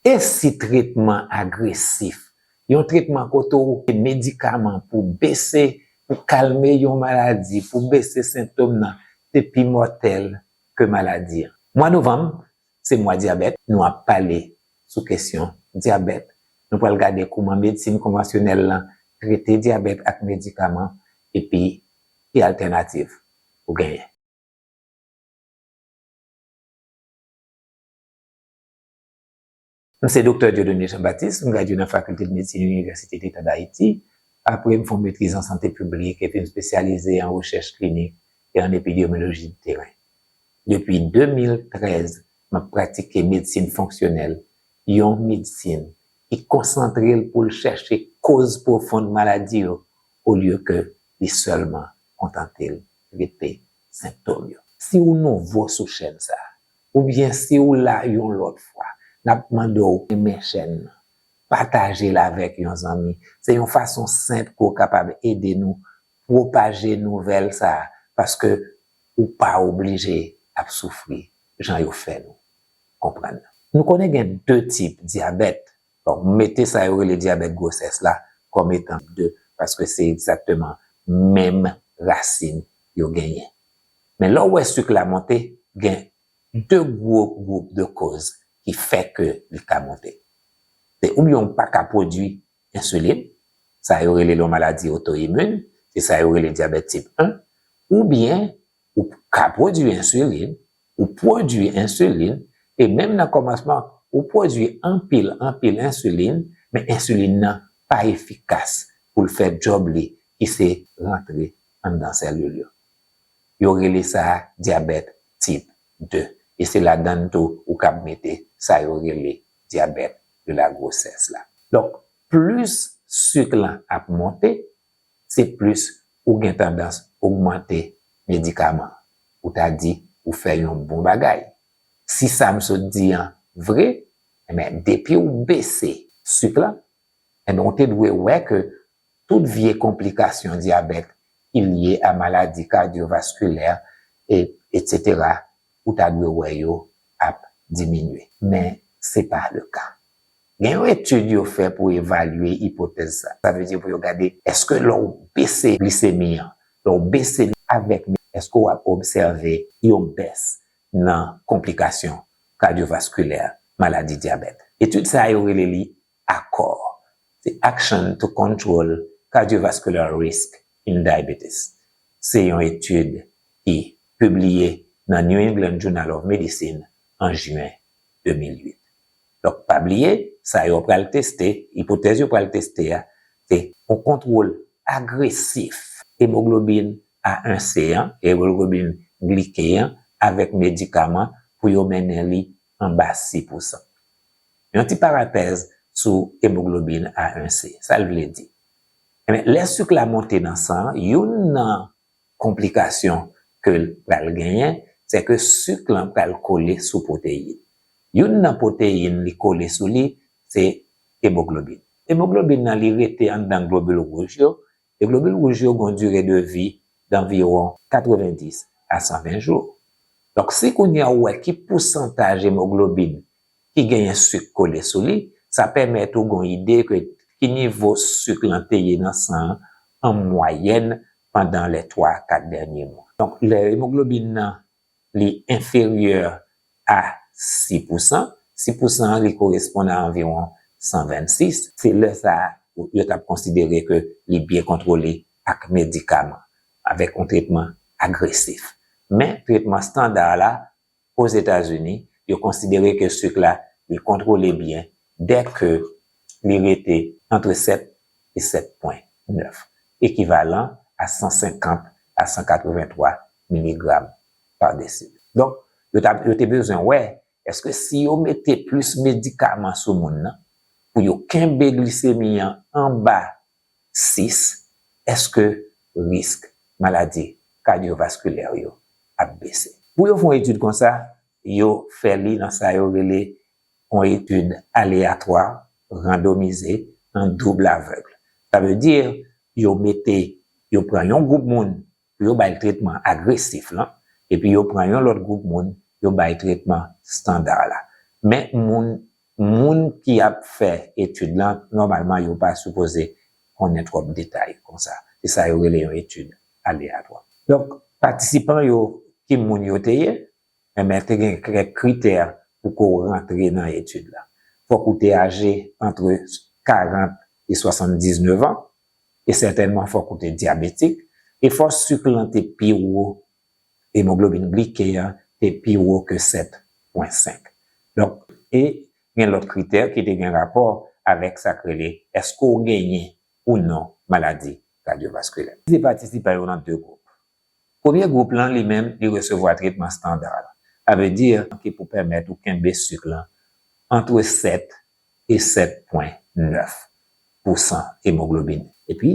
E si tretman agresif, yon tretman kote ou pran medikaman pou bese, pou kalme yon maladi, pou bese sentom nan, te pi mòtèl ke maladi an? Mwa novanm, se mwa dyabèt, nou ap pale sou kesyon dyabèt. Nou pral gade kouman medsin konvansyonèl lan trete dyabèt ak medikaman epi ki altènativ ou genyen. Mwen se Doktè Dieudonné Jean Baptiste, m gradye nan Fakilte Medsin Inivèsite Leta Dayiti, apre m fè yon metriz an sante piblik epi m spesyalize an rechèch klinik e an epidyemiloji de teren. Depi 2013, m ap pratike medsin fonksyonèl, yon medsin ki konsantre l pou l chèche koz pwofond maladi yo olye ke li sèlman kontante l trete senptom yo. Si ou nouvo sou chèn sa, Oubyen si ou la yon lòt fwa, n ap mande w renmen chèn nan, pataje l avèk yon zanmi. Se yon fason senp ke w kapab ede nou pwopaje nouvèl sa a, paske ou pa oblije ap soufri jan yo fè nou konprann nan. Nou konnen gen de tip dyabèt, Donk mete sa yo rele dyabèt gwosès la kòm etanp 2 paske se egzakteman menm rasin yo genyen. Men lè w wè suk la monte, gen 2 gwo gwoup de koz ki fè ke li ka monte. Se oubyen w pa ka pwodui ensilin, sa yo rele l yon maladi otoimun, se sa yo rele dyabèt tip 1, oubyen Ou ka pwodui ensilin, ou pwodui ensilin, e menm nan kòmansman, ou pwodui anpil, anpil ensilin, men ensilin nan pa efikas pou l fè djòb li ki se rantre anndan sèlil yo. Yo rele sa dyabèt tip 2, e se ladann tou ou kab mete sa yo rele dyabèt de la gwosès la. Donk, plis sik lan ap monte, se plis ou gen tandans ogmante medikaman. Ou ta di ou fè yon bon bagay. Si sa m sot di an vre, enben depi ou bese suk lan, enben ou te dwe wè ke tout vye konplikasyon dyabèt ki lye a maladi kadyovaskilè, e, etsetera, ou ta dwe wè yo ap diminye. Men, se pa le ka. Gen yon etid yo fè pou evalye ipotèz sa. Sa vle di pou yo gade èske lè w bese glisemi an, lè w bese li avèk men, èske w ap obsève yon bès nan konplikasyon kadyovaskilè maladi dyabèt. Etid sa yo rele li Akò, The Action to Control Cardiovascular Risk in Diabetes, se yon etid ki pibliye nan New England Journal of Medicine an Jyen 2008. Donk pa bliye, sa yo pral teste, ipotèz yo pral teste a, se yon kontwol agresif emoglobin A1C an, emoglobin glike an, avèk medikaman pou yo mennen li anba 6 pousan. Yon ti parantèz sou emoglobin A1C, sa l vle di? Enben, lè suk la monte nan san an, youn nan konplikasyon ke l pral genyen, se ke suk lan pral kole sou pwoteyin. Youn nan pwoteyin li kole sou li, se emoglobin. Emoglobin nan li rete anndan globil wouj yo, E globil wouj yo gen yon dire de vi danviwon 90 a 120 jou. Donk si kounye a ou wè ki pousantaj emoglobin ki genyen suk kole sou li, sa pèmèt ou gen yon ide ke ki nivo suk lan te ye nan san an an mwayèn pandan lè 3 a 4 dènye mwa. Donk lè emoglobin nan li enferyè a si pousan, si pousan an li koresponn a anviwon 126, se lè sa a yo t ap konsidere ke li byen kontwole ak medikaman, avèk yon tretman agresif. Men, tretman standar la, Ozetazini, yo konsidere ke suk la li kontwole byen dè ke li rete antre 7 e 7 pwen 9, ekivalan a 150 a 183 miligram pa desil. Donk, yo ta, yo te bezwen wè èske si yo mete plis medikaman sou moun nan pou yo kenbe glisemi an anba 6, èske risk maladi kadyovaskilè yo ap bese. Pou yo fè yon etid konsa, yo fè li nan sa yo rele yon etid aleyatwa, randomize, an double aveugle. Sa vle di, yo mete, yo pran yon gwoup moun pou yo bay tretman agresif lan, epi yo pran yon lòt gwoup moun, yo bay tretman standa la. Men moun, moun ki ap fè etid lan, nòmalman yo pa sipoze konnen twòp detay konsa. Se sa yo rele yon etid aleyatwa. Donk, patisipan yo, ki moun yo te ye? Men te gen kèk kritè pou ke w rantre nan etid la. Fòk ou te aje antre 40 e 79 an, e sètènman fòk ou te dyabetik, e fòk sik lan te pi wo, emoglobin glike a te pi wo ke 7 pwen 5. Donk, e gen lòt kritè ki te gen rapò avèk sa k rele èske w genyen ou non maladi kadyovaskilè. Divize patisipan yo nan 2 gwoup. Premye gwoup lan li menm li resevwa tretman standar la, sa vle di ki pou pèmèt ou kenbe sik lan antre 7 e 7 pwen 9 pou san emoglobin. Epi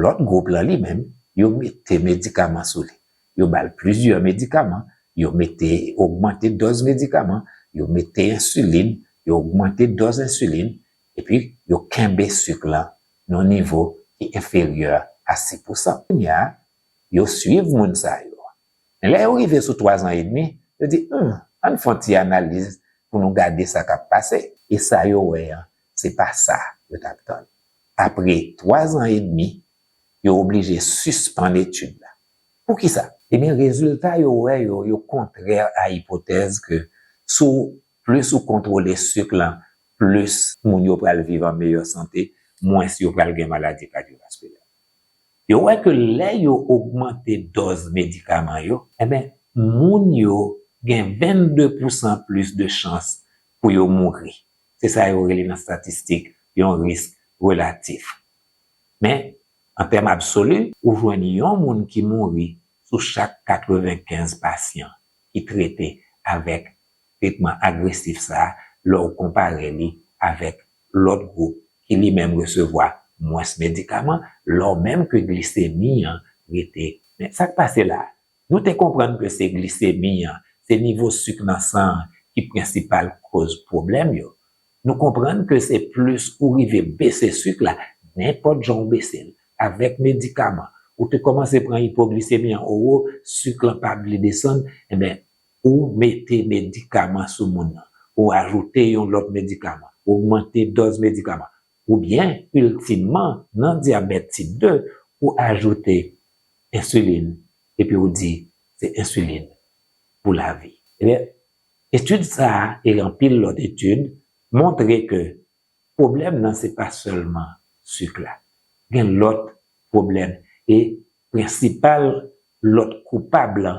lòt gwoup lan li menm yo mete medikaman sou li, yo ba l plizyè medikaman, yo mete ogmante dòz medikaman, yo mete ensilin, yo ogmante dòz ensilin, epi yo kenbe suk lan nan yon nivo ki enferyè a 6 pousan. Kounye a, yo suiv moun sa yo. Men lè yo rive sou twazan edmi, yo di, Hum, ann fè yon ti analiz pou nou gade sa k ap pase. E sa yo wè an, se pa sa yo t ap tann. Apre twazan edmi, yo oblije sispann etid la. Poukisa? Ebyen, rezilta yo wè yo, yo kontrè a ipotèz ke sou Plis ou kontwole suk lan, plis moun yo pral viv an meyè sante, mwens yo pral gen maladi kadyovaskilè. Yo wè ke lè yo ogmante dòz medikaman yo, enben moun yo gen 22 pousan plis de chans pou yo mouri. Se sa yo rele nan statistik yon risk relatif. Men, an tèm absoli, ou jwenn yon moun ki mouri sou chak 95 pasyan ki trete avèk tretman agresif sa a lè w konpare li avèk lòt gwoup ki li menm resevwa mwens medikaman, lò menm ke glisemi an rete. Men, sa k pase la a? Nou te konprann ke se glisemi an, se nivo suk nan san an ki prensipal koz pwoblèm yo. Nou konprann ke se plis ou rive bese suk la, nenpòt jan ou bese l, avèk medikaman, ou te kòmanse pran ipoglisemi an, owo, suk lan pa vle desann, enben, Ou mete medikaman sou moun nan, ou ajoute yon lòt medikaman, ogmante dòz medikaman, oubyen iltimman nan dyabèt tip 2, ou ajoute ensilin epi ou di se ensilin pou lavi. Ebyen, etid sa a e anpil lòt etid montre ke pwoblèm nan se pa sèlman sik la. Gen lòt pwoblèm e prensipal lòt koupab lan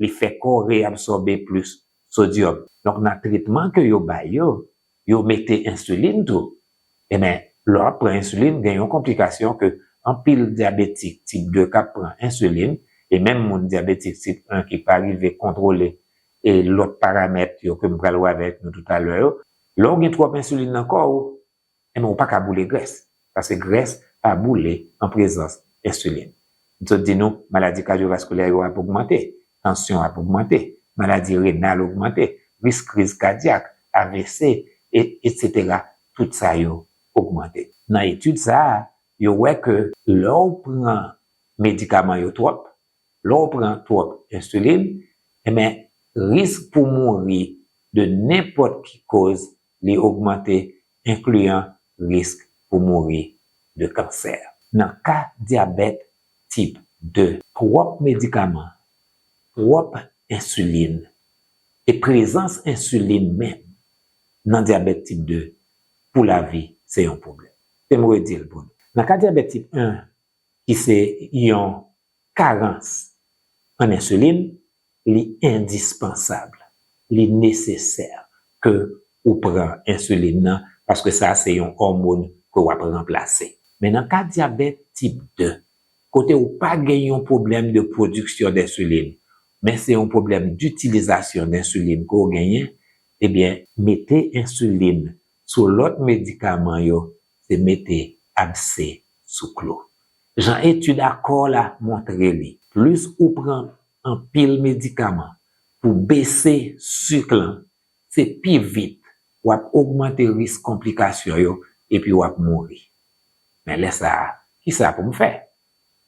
li fè kò reabsòbe plis sodyòm. Donk nan tretman ke yo bay yo, yo mete ensilin tou. Enben, lè w ap pran ensilin, gen yon konplikasyon ke anpil dyabetik tip 2 k ap pran ensilin, e menm moun dyabetik tip 1 ki pa rive kontwole e lòt paramèt yo ke m pral wè avèk nou toutalè yo, lè w gen twòp ensilin nan kò ou, Enben ou pa ka boule grès, paske grès pa boule an prezans ensilin. M sot di nou maladi kadyovaskulè yo ap ogmante, tansyon ap ogmante, maladi renal ogmante, risk kriz kadyak, avc, etc. Tout sa yo ogmante. Nan etid sa a, yo wè ke lè ou pran medikaman yo twòp, lè ou pran twòp ensilin, enben risk pou mouri de nenpòt ki koz li ogmante enkliyan risk pou mouri de kansè. Nan ka dyabèt tip 2. Twòp medikaman, twòp ensilin, e prezans ensilin menm nan dyabèt tip 2 pou lavi se yon pwoblèm. Kite m redi l pou nou. Nan ka dyabèt tip 1, ki se yon Karans an ensilin li endispansab, li nesesè ke ou pran ensilin nan paske sa se yon òmon ke w ap ranplase. Men nan ka dyabèt tip 2, kote ou pa gen yon pwoblèm de pwodiksyon densilin, men se yon pwoblèm ditilizasyon densilin ke w genyen, ebyen, mete ensilin sou lòt medikaman yo se mete abse sou klou. Jan etid akò la montre li, plis ou pran anpil medikaman pou bese suk lan, se pi vit w ap ogmante risk konplikasyon yo epi w ap mouri. Men lè sa a, kisa pou m fè?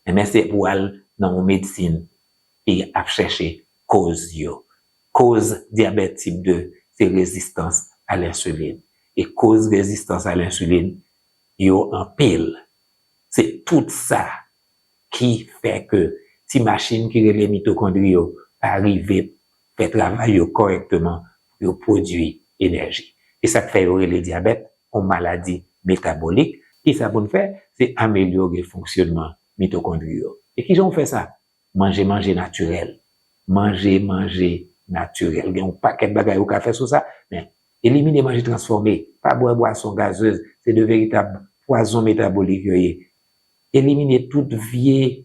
Enben se pou al nan yon medsin ki ap chèche koz yo. Koz dyabèt tip 2 se rezistans a lensilin. E koz rezistans a lensilin yo anpil. Se tout sa ki fè ke ti machin ki rele mitokondri yo pa rive fè travay yo kòrèkteman pou yo pwodui enèji. E sa k fè yo rele dyabèt yon maladi metabolik. Ki sa pou n fè? Se amelyore fonksyonman mitokondri yo. E ki jan w fè sa? Manje manje natirèl. Manje manje natirèl. Gen yon pakèt bagay ou ka fè sou sa, men elimine manje transfòme, pa bwè bwason gazez, se de veritab pwazon metabolik yo ye. Elimine tout vye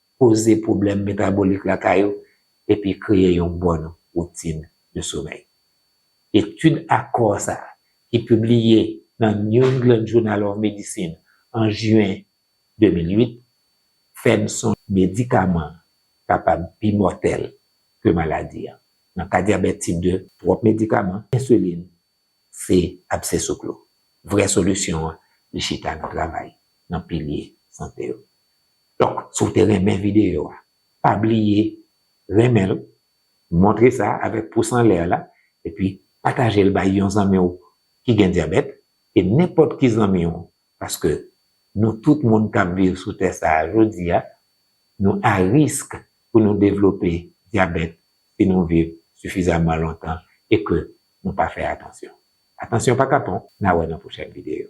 koze pwoblèm metabolik lakay ou epi kreye yon bòn woutin de somèy. Etid akò sa a, ki pibliye nan New England Journal of Medicine an Jiwen 2008, fè n sonje. Medikaman kapab pi mòtèl ke maladi an. Nan ka dyabèt tip 2. Twòp medikaman ensilin se absè sou klo. Vrè solisyon an li chita nan travay nan pilye sante yo. Donk si w te renmen videyo a pa bliye renmen l, montre sa avèk pous anlè la epi pataje l bay yon zanmi w ki gen dyabèt e nenpòt ki zanmi w Paske nou tout moun k ap viv sou tè sa a jodi a, nou a risk pou nou devlope dyabèt si nou viv sifizaman lontan e ke nou pa fè atansyon. Atansyon pa kapon, n a wè nan pwochèn videyo.